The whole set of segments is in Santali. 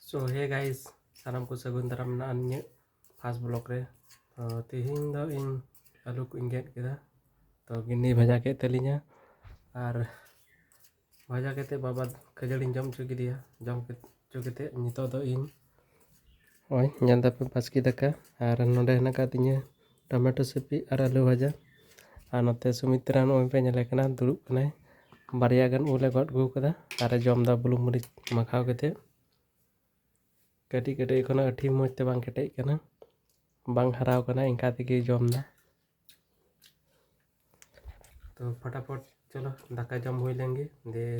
ᱥᱳ ᱦᱮ ᱜᱟᱭᱤᱥ ᱥᱟᱱᱟᱢ ᱠᱚ ᱥᱟᱹᱜᱩᱱ ᱫᱟᱨᱟᱢ ᱢᱮᱱᱟᱜᱼᱟ ᱤᱧᱟᱹᱜ ᱯᱷᱟᱥᱴ ᱵᱞᱚᱜ ᱨᱮ ᱛᱚ ᱛᱮᱦᱮᱧ ᱫᱚ ᱤᱧ ᱟᱹᱞᱩ ᱠᱚᱧ ᱜᱮᱫ ᱠᱮᱫᱟ ᱛᱚ ᱵᱷᱤᱱᱰᱤ ᱵᱷᱟᱡᱟ ᱠᱮᱫ ᱛᱟᱹᱞᱤᱧᱟ ᱟᱨ ᱵᱷᱟᱡᱟ ᱠᱟᱛᱮᱫ ᱵᱟᱵᱟ ᱠᱷᱟᱹᱡᱟᱹᱲᱤᱧ ᱡᱚᱢ ᱦᱚᱪᱚ ᱠᱮᱫᱮᱭᱟ ᱡᱚᱢ ᱦᱚᱪᱚ ᱠᱟᱛᱮᱫ ᱱᱤᱛᱚᱜ ᱫᱚ ᱤᱧ ᱱᱚᱜᱼᱚᱭ ᱧᱮᱞ ᱫᱟᱯᱮ ᱵᱟᱥᱠᱮ ᱫᱟᱠᱟ ᱟᱨ ᱱᱚᱸᱰᱮ ᱦᱮᱱᱟᱜ ᱟᱠᱟᱫ ᱛᱤᱧᱟᱹ ᱴᱚᱢᱮᱴᱳ ᱥᱤᱯᱤ ᱟᱨ ᱟᱹᱞᱩ ᱵᱷᱟᱡᱟ ᱟᱨ ᱱᱚᱛᱮ ᱥᱩᱢᱤᱛᱨᱟ ᱱᱚᱜᱼᱚᱭ ᱯᱮ ᱧᱮᱞᱮ ᱠᱟᱱᱟ ᱫᱩᱲᱩᱵ ᱠᱟᱱᱟᱭ ᱵᱟᱨᱭᱟ ᱜᱟᱱ ᱩᱞᱮ ᱜᱚᱫ ᱟᱹᱜᱩ ᱠᱟᱫᱟ ᱟᱨᱮ ᱡᱚᱢᱫᱟ ᱵᱩᱞᱩᱝ ᱢᱟᱹᱨᱤᱪ ᱢᱟᱠᱷᱟᱣ ᱠᱟᱛᱮᱫ ᱠᱟᱹᱴᱤᱡ ᱠᱟᱹᱴᱤᱡ ᱮᱠᱷᱚᱱᱚ ᱟᱹᱴᱷᱤ ᱢᱚᱡᱽ ᱛᱮ ᱵᱟᱝ ᱠᱮᱴᱮᱡ ᱠᱟᱱᱟ ᱵᱟᱝ ᱦᱟᱨᱟᱣ ᱠᱟᱱᱟ ᱤᱱᱠᱟ ᱛᱮᱜᱮ ᱡᱚᱢᱫᱟ ᱛᱚ ᱯᱷᱚᱴᱟᱯᱷᱚᱴ ᱪᱚᱞᱚ ᱫᱟᱠᱟ ᱡᱚᱢ ᱦᱩᱭ ᱞᱮᱱᱜᱮ ᱫᱤᱭᱮ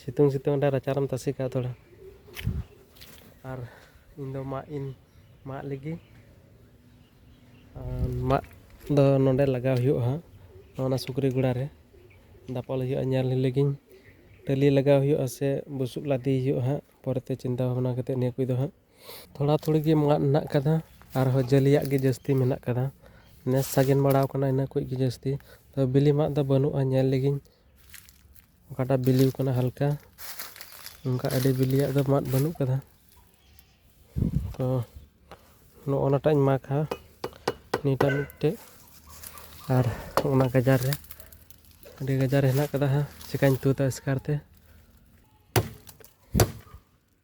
ᱥᱤᱛᱩᱝ ᱥᱤᱛᱩᱝ ᱚᱸᱰᱮ ᱨᱟᱪᱟ ᱨᱮᱢ ᱛᱟᱥᱮ ᱠᱟᱜᱼᱟ ᱛᱷᱚᱲᱟ ᱟᱨ ᱤᱧ ᱫᱚ ᱢᱟᱜ ᱤᱧ ᱢᱟᱜ ᱞᱮᱜᱮ ᱟᱨ ᱢᱟᱜ ᱫᱚ ᱱᱚᱰᱮ ᱞᱟᱜᱟᱣ ᱦᱩᱭᱩᱜᱼᱟ ᱦᱟᱸᱜ ᱚᱱᱟ ᱥᱩᱠᱨᱤ ᱜᱚᱲᱟ ᱨᱮ ᱫᱟᱯᱟᱞ ᱦᱩᱭᱩᱜᱼᱟ ᱧᱮᱞ ᱞᱮᱜᱤᱧ ᱴᱟᱹᱞᱤ ᱞᱟᱜᱟᱣ ᱦᱩᱭᱩᱜᱼᱟ ᱥᱮ ᱵᱩᱥᱩᱵ ᱞᱟᱫᱮᱭ ᱦᱩᱭᱩᱜᱼᱟ ᱦᱟᱸᱜ ᱯᱚᱨᱮᱛᱮ ᱪᱤᱱᱛᱟᱹ ᱵᱷᱟᱵᱽᱱᱟ ᱠᱟᱛᱮ ᱱᱤᱭᱟᱹ ᱠᱚᱫᱚ ᱦᱟᱸᱜ ᱛᱷᱚᱲᱟ ᱛᱷᱩᱲᱤ ᱜᱮ ᱢᱟᱫ ᱢᱮᱱᱟᱜ ᱟᱠᱟᱫᱟ ᱟᱨᱦᱚᱸ ᱡᱟᱹᱞᱤᱭᱟᱜ ᱜᱮ ᱡᱟᱹᱥᱛᱤ ᱢᱮᱱᱟᱜ ᱟᱠᱟᱫᱟ ᱱᱮᱥ ᱥᱟᱜᱮᱱ ᱵᱟᱲᱟ ᱟᱠᱟᱱᱟ ᱤᱱᱟᱹ ᱠᱚᱜᱮ ᱡᱟᱹᱥᱛᱤ ᱛᱚ ᱵᱤᱞᱤ ᱢᱟᱫ ᱫᱚ ᱵᱟᱹᱱᱩᱜᱼᱟ ᱧᱮᱞ ᱞᱮᱜᱤᱧ ᱚᱠᱟᱴᱟᱜ ᱵᱤᱞᱤ ᱟᱠᱟᱱᱟ ᱦᱟᱞᱠᱟ ᱚᱱᱠᱟ ᱟᱹᱰᱤ ᱵᱤᱞᱤᱭᱟᱜ ᱫᱚ ᱢᱟᱫ ᱵᱟᱹᱱᱩᱜ ᱟᱠᱟᱫᱟ ᱛᱚ ᱱᱚᱜᱼᱚ ᱱᱟᱴᱟᱜ ᱤᱧ ᱢᱟᱜᱟ ᱱᱤᱭᱟᱹᱴᱟᱜ ᱢᱤᱫᱴᱮᱱ ᱟᱨ ᱚᱱᱟ ᱜᱟᱡᱟᱲ ᱨᱮ ᱟᱹᱰᱤ ᱜᱟᱡᱟᱲ ᱨᱮ ᱦᱮᱱᱟᱜ ᱟᱠᱟᱫᱟ ᱦᱟᱸᱜ ᱪᱤᱠᱟᱹᱧ ᱛᱩᱫᱟ ᱮᱥᱠᱟᱨ ᱛᱮ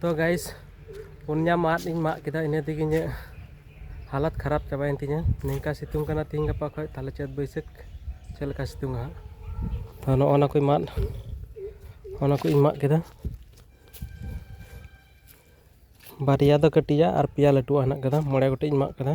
ᱛᱚ ᱜᱟᱭᱤᱥ ᱯᱩᱱᱭᱟ ᱢᱟᱫ ᱤᱧ ᱢᱟᱜ ᱠᱮᱫᱟ ᱤᱱᱟᱹ ᱛᱮᱜᱮ ᱤᱧᱟᱹᱜ ᱦᱟᱞᱚᱛ ᱠᱷᱟᱨᱟᱯ ᱪᱟᱵᱟᱭᱮᱱ ᱛᱤᱧᱟᱹ ᱱᱤᱝᱠᱟ ᱥᱤᱛᱩᱝ ᱠᱟᱱᱟ ᱛᱤᱦᱤᱧ ᱜᱟᱯᱟ ᱠᱷᱚᱡ ᱛᱟᱦᱚᱞᱮ ᱪᱟᱹᱛ ᱵᱟᱹᱭᱥᱟᱹᱠᱷ ᱪᱮᱫ ᱞᱮᱠᱟ ᱥᱤᱛᱩᱝᱟ ᱦᱟᱸᱜ ᱛᱚ ᱱᱚᱜᱼᱚ ᱱᱟ ᱠᱚ ᱢᱟᱫ ᱚᱱᱟ ᱠᱚᱧ ᱢᱟᱜ ᱠᱮᱫᱟ ᱵᱟᱨᱭᱟ ᱫᱚ ᱠᱟᱹᱴᱤᱡᱟᱜ ᱟᱨ ᱯᱮᱭᱟ ᱞᱟᱹᱴᱩᱣᱟᱜ ᱦᱮᱱᱟᱜ ᱠᱟᱫᱟ ᱢᱚᱬᱮ ᱜᱚᱴᱮᱡ ᱤᱧ ᱢᱟᱜ ᱠᱟᱫᱟ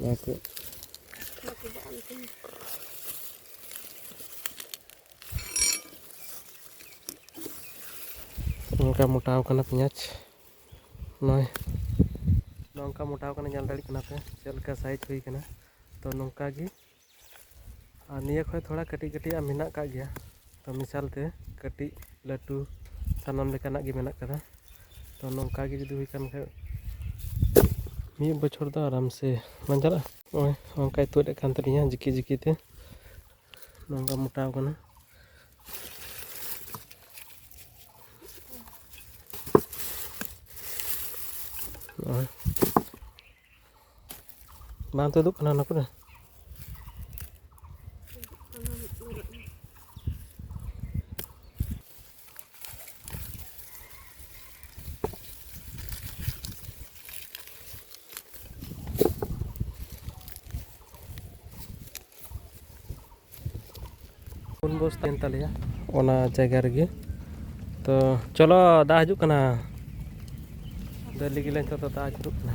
Bakit? Bakit ba ang tingin? ᱱᱚᱝᱠᱟ ᱢᱚᱴᱟᱣ ᱠᱟᱱᱟ ᱯᱮᱸᱭᱟᱡᱽ ᱱᱚᱜᱼᱚᱭ ᱱᱚᱝᱠᱟ ᱢᱚᱴᱟᱣ ᱠᱟᱱᱟ ᱧᱮᱞ ᱫᱟᱲᱮᱭᱟᱜ ᱠᱟᱱᱟ ᱯᱮ ᱪᱮᱫ ᱞᱮᱠᱟ ᱥᱟᱭᱤᱡᱽ ᱦᱩᱭ ᱠᱟᱱᱟ ᱛᱚ ᱱᱚᱝᱠᱟ ᱜᱮ ᱟᱨ ᱱᱤᱭᱟᱹ ᱠᱷᱚᱡ ᱛᱷᱚᱲᱟ ᱠᱟᱹᱴᱤᱡ ᱠᱟᱹᱴᱤᱡ ᱟᱜ ᱢᱮᱱᱟᱜ ᱠᱟᱜ ᱜᱮᱭᱟ ᱛᱚ ᱢᱮᱥᱟᱞ ᱛᱮ ᱠᱟᱹᱴᱤᱡ ᱞᱟᱹᱴᱩ ᱥᱟᱱᱟᱢ ᱞᱮᱠᱟᱱᱟᱜ ᱜᱮ ᱢᱮᱱᱟᱜ ᱠᱟᱫᱟ ᱛᱚ ᱱᱚᱝᱠᱟ ᱜᱮ ᱡᱩᱫᱤ ᱦᱩᱭ ᱠᱟᱱ ᱠᱷᱟᱡ ᱢᱤᱫ ᱵᱚᱪᱷᱚᱨ ᱫᱚ ᱟᱨᱟᱢ ᱥᱮ ᱵᱟᱝ ᱪᱟᱞᱟᱜᱼᱟ ᱱᱚᱜᱼᱚᱭ ᱱᱚᱝᱠᱟᱭ ᱛᱩᱫ ᱮᱫ ᱠᱟᱱ ᱛᱟᱹᱞᱤᱧᱟ ᱡᱤᱠᱤ ᱡᱤᱠᱤ ᱛᱮ ᱱᱚᱝᱠᱟ ᱢᱚᱴᱟᱣ ᱠᱟᱱᱟ ᱱᱚᱜᱼᱚᱭ ᱵᱟᱝ ᱛᱩᱫᱩᱜ ᱠᱟᱱᱟ ᱚᱱᱟ ᱠᱚᱨᱮ ᱯᱩᱱ ᱵᱚᱥ ᱛᱟᱦᱮᱱ ᱛᱟᱞᱮᱭᱟ ᱚᱱᱟ ᱡᱟᱭᱜᱟ ᱨᱮᱜᱮ ᱛᱚ ᱪᱚᱞᱚ ᱫᱟᱜ ᱦᱤᱡᱩᱜ ᱠᱟᱱᱟ ᱫᱟᱹᱲ ᱞᱟᱹᱜᱤᱫ ᱞᱮ ᱱᱤᱛᱚᱜ ᱫᱚ ᱫᱟᱜ ᱦᱤᱡᱩᱜ ᱠᱟᱱᱟ